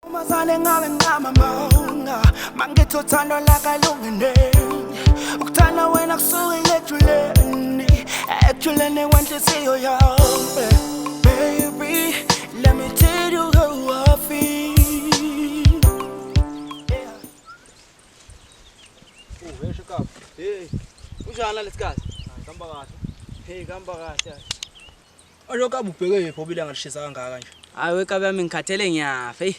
Umazane ngabe ngama manga Mangithi uthando lakalungene Ukuthanda wena kusuke ilejuleni Ejuleni wenhliziyo yami Baby, let me tell you how I feel Yeah. Uheshe kapa. Hey, unjani lesi kahle? Ngihamba kahle. Hey, ngihamba kahle. Aloku abubheke yephi obile angalishisa kangaka nje. Hayi wekabi yami ngikhathele ngiyafa. Ey.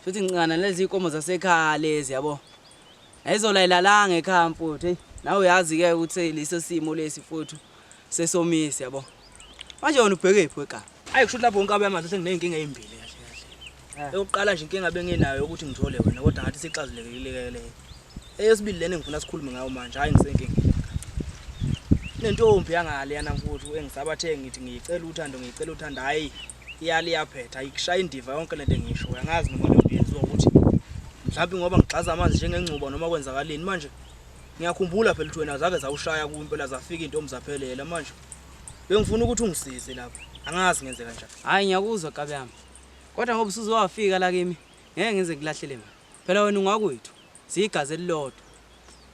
Futhi ngincana lezi ikomo zasekhaya lezi yabo. Ayizola ilalanga ekhaya mfuthu. Ey. Nawe uyazi ke ukuthi leso simo lesi mfuthu sesomisi yabo. Manje wena ubheke yephi wekabi? Ayi kusho lapho nkabi yami athi sengineyinkinga ezimbili. Eh. Eyokuqala nje inkinga bengenayo ukuthi ngithole wena kodwa ngathi sixazulekile leyo. Eyesibili lena engifuna sikhulume ngayo manje hayi ngisenkingeni. Nentombi yangale yana mfuthu engisabathe ngithi ngiyicela uthando ngiyicela uthando hayi iyali yaphetha ayikushaya indiva yonke lento engisho uyangazi noma leyo yenziwa ukuthi mhlawumbe ngoba ngigxaza amanzi njengengcuba noma kwenzakaleni manje ngiyakhumbula phela ukuthi wena zake zawushaya ku impela zafika intombi zaphelela manje bengifuna ukuthi ungisize lapho angazi ngenzeka njani hayi ngiyakuzwa gabe yami Kodwa ngoba usuze wafika la kimi, ngeke ngize ngikulahlele mina. Phela wena ungakwethu, siyigazi elilodwa.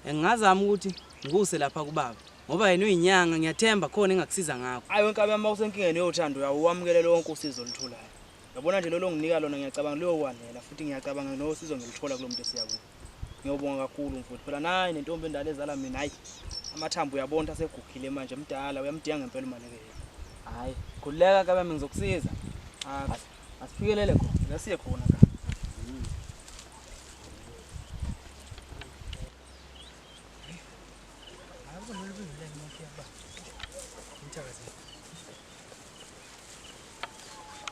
And ngingazama ukuthi ngikuse lapha kubaba ngoba yena uyinyanga, ngiyathemba khona engakusiza ngakho. Hayi wenkabi yami, uma usenkingeni yothando uyawo uwamukele lonke usizo olutholayo. Yabona nje lolo nginika lona ngiyacabanga luyokwanela futhi ngiyacabanga nosizo ngiluthola kulo muntu esiya kuwo. Ngiyobonga kakhulu mfowethu. Phela nayi nentombi endala ezala mina hayi. Amathambo uyabona asegugile manje mdala uyamdinga ngempela imali ke. Hayi, khuleka kabe mina ngizokusiza. Ah, asifikelele khona. Ngasiye khona ka.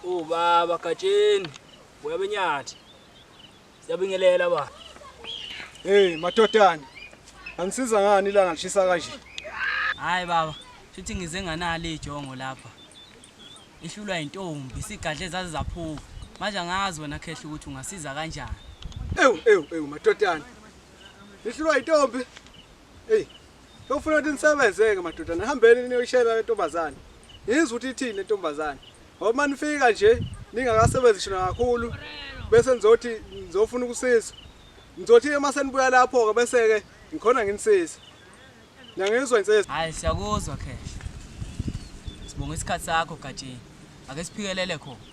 Ubaba Gatsheni, uyabenyathi. Siyabingelela ba. Hey matotana. Angisiza ngani ilanga lishisa kanje? Hayi baba, futhi ngize nganalo ijongo lapha. Ihlulwa intombi, sigadle zaze zaphuka. Manje angazi wena khehla ukuthi ungasiza kanjani. Ewu ewu ewu matotana. Ihlulwa intombi. Hey, Ufuna ukuthi nisebenze-ke madoda nihambeni niyoyishela le ntombazane ngizwe ukuthi ithini le ntombazane ngoba uma nifika nje ningakasebenzi shona kakhulu bese nizothi nizofuna ukusiza nizothi uma senibuya lapho-ke bese-ke ngikhona nginisiza niyangizwa inseza hayi siyakuzwa khehla sibonga isikhathi sakho gatsheni ake siphikelele khona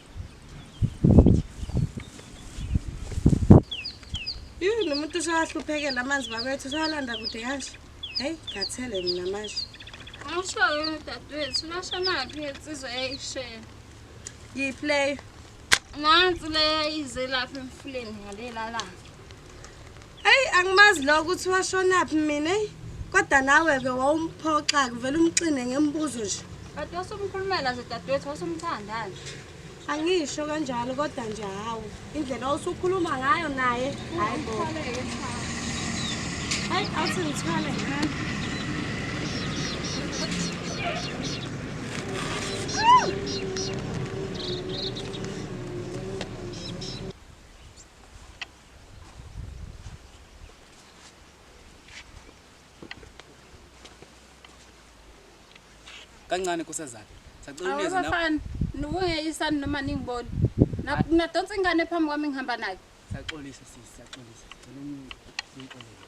umuntu usahluphekela amanzi bakwethu usawalanda kude kanje heyi ngathele mina manje awushoyo dadewethu lashonaphi insizwa eyayishela yipleyo nansi leyo ize lapha emfuleni ngalelalayo Eyi angimazi lo ukuthi washonaphi mina eyi kodwa nawe-ke wawumphoxa-ke uvele umxine ngembuzo nje But wasumkhulumela nje dadewethu wasumthandani. angisho kanjalo kodwa nje hawu indlela osukhuluma ngayo naye hayi bo hayi awuthi ngithwale ngani kancane nkosazana sacela uneze nawe awabafana nibungeyisani noma ningiboni Na- nadonsa ingane phambi kwami ngihamba nayo saxolisa sisi saxolisa sicela ungixolele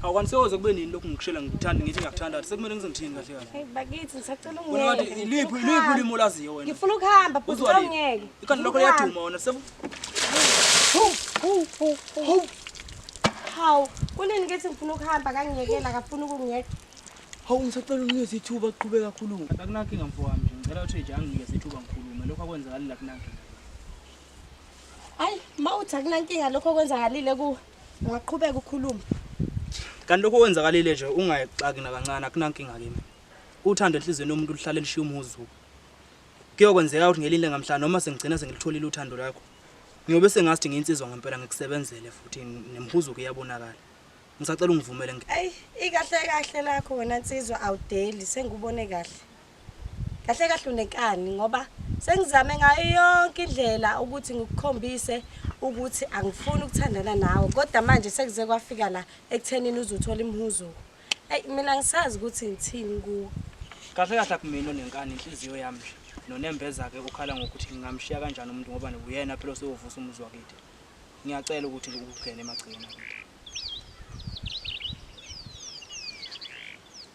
awukanisekoze kube nini lokhu ngikushela ngikuthanda ngithi ngiyakuthanda sekumele ngize ngithini kahle kahle Hey bakithi ngisacela Wena wathi ungeke. iliphi iliphi ulimi olaziyo wena Ngifuna ukuhamba bhuti Uzwa liphi? awungeke. ikhanda lakho liyaduma wena seku Hawu, kunini kethi ngifuna ukuhamba kangiyekela akafuna ukungiyeka. hawu ngisacela unikeze ithuba qhube kakhulu akunankinga mfo wami nje ngicela uthi nje anginikeze ithuba ngikhulume lokho akwenzakali la kunankinga Hayi, mawuthi akunankinga lokho okwenzakalile kuwe. Ungaqhubeka ukhuluma. Kanti lokho kwenzakalile nje ungayixaki nakancane akunankinga kimi. Uthando enhlizweni yomuntu luhlale lishiya umuzu. Kuyokwenzeka ukuthi ngelinde ngamhla noma sengigcina sengilitholile uthando lakho. Ngiyobe sengathi ngiyinsizwa ngempela ngikusebenzele futhi nemhuzuko iyabonakala. Ngisacela ungivumele ngi. Ayi ikahle kahle lakho wena nsizwa awudeli sengikubone kahle. kahle kahle unenkani ngoba sengizame ngayo yonke indlela ukuthi ngikukhombise ukuthi angifuni ukuthandana nawe kodwa manje sekuze kwafika la ekuthenini uzuthola imhuzuko eyi mina ngisazi ukuthi ngithini kuwe kahle kahle akumina onenkani inhliziyo yami nje nonembeza-ke ukhala ngokuthi ngingamshiya kanjani umuntu ngoba nguyena phela oseyovusa umuzi wakithi ngiyacela ukuthi ukugene emagcikeni akuthi